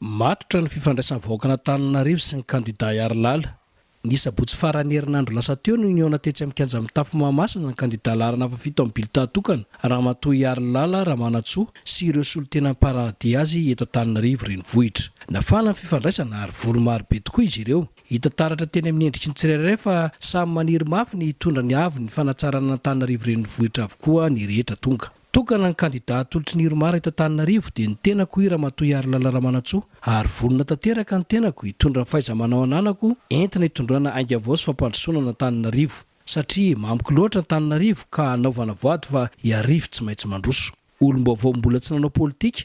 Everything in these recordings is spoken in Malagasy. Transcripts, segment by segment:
Matotra ny fifandraisam-vahoaka an'Antananarivo sy ny kandidà Iharilala. Ny sabotsy faran'ny herinandro lasa teo no nihaona tetsy amin'ny kianja mitafo Mahamasina ny kandidà laharana fahafito amin'ny bilità tokana, Ramatoa Iharilala Ramanantsoa sy ireo solontena mparahadihy azy eto Antananarivo renivohitra. Nafana ny fifandraisana ary vory marobe tokoa izy ireo. Hita taratra teny amin'ny endriky ny tsirairay fa samy maniry mafy ny hitondra ny avon'ny fanatsarana an'Antananarivo renivohitra avokoa ny rehetra tonga. Tokana ny kandida atolotry ny Irmar eto Antananarivo dia ny tenako i Ramatoa Iharilala Ramanantsoa ary vonona tanteraka ny tenako hitondra ny fahaiza-manao ananako entina hitondrana ainga vao sy fampandrosoana an'Antananarivo satria mamiko loatra Antananarivo ka hanaovana voady fa i Arivo tsy maintsy mandroso. Olom-baovao mbola tsy nanao politika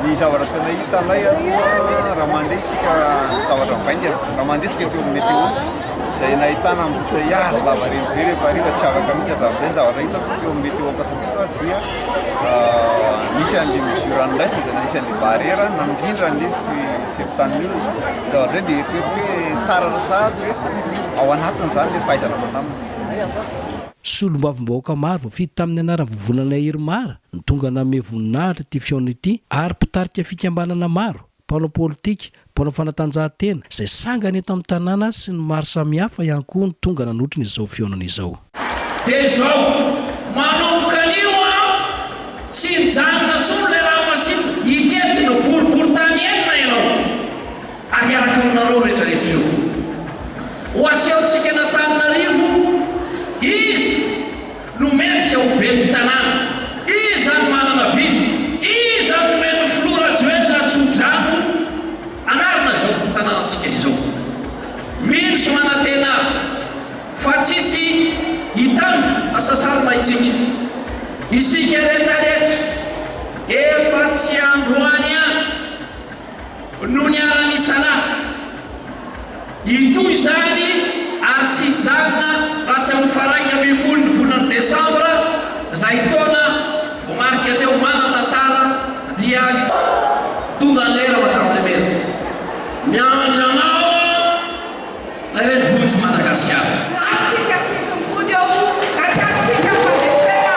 Ny zavatra tena hita ilay aloha raha mandeha isika zavatra mivaingana, raha mandeha isika teo amin'ny météo, izay nahitana embouteillage lavareny be rehefa hariva tsy afaka mihitsy hatramin'izay ny zavatra hitako teo amin'ny météo Ankasamilo dia nisy an'ilay mesure an'iraisana izay nisy an'ilay barrière namindra an'ilay fepotanin'ny olona. Ny zavatra izay dia eritreretiko hoe tara na sahady hoe ao anatin'izany ilay fahaizana mandamina. Solombavambahoaka maro voafidy tamin'ny anaram-vovonana Irmar Ny tonga nanome voninahitra ity fihaonana ity ary mpitarika fikambanana maro, mpanao politika, mpanao fanatanjahantena izay sangany eto amin'ny tanàna sy ny maro samihafa ihany koa no tonga nanotrona izao fihaonana izao. Dia izao, manomboka anio aho, tsy mijanona intsony ilay ranomasina, hitety ireo boriborintany enina ianao, ary hiaraka aminareo rehetrarehetra ireo foko. Ho asehontsika an'Antananarivo izy. no mendrika ho ben'ny tanàna? Iza no manana vina? Iza no nomen'ny filoha Rajoelina tso-drano hanarina izao tanànantsika izao? Mino sy manantena aho fa tsy hisy hitandro hasasarona isika. Isika rehetra rehetra efa tsy androany ihany. no niharan'i Salah. Hitohy izany ary tsy hijanona raha tsy amin'ny faraika ambin'ny folo ny volana desambra izay taona voamarika teo manan-tantara dia ny Tonga ny lera Madame le Maire. Miandry anao aho ilay renivohitr'i Madagasikara. Lasy tsika tsy hisy mivody ao raha tsy azontsika fandresena.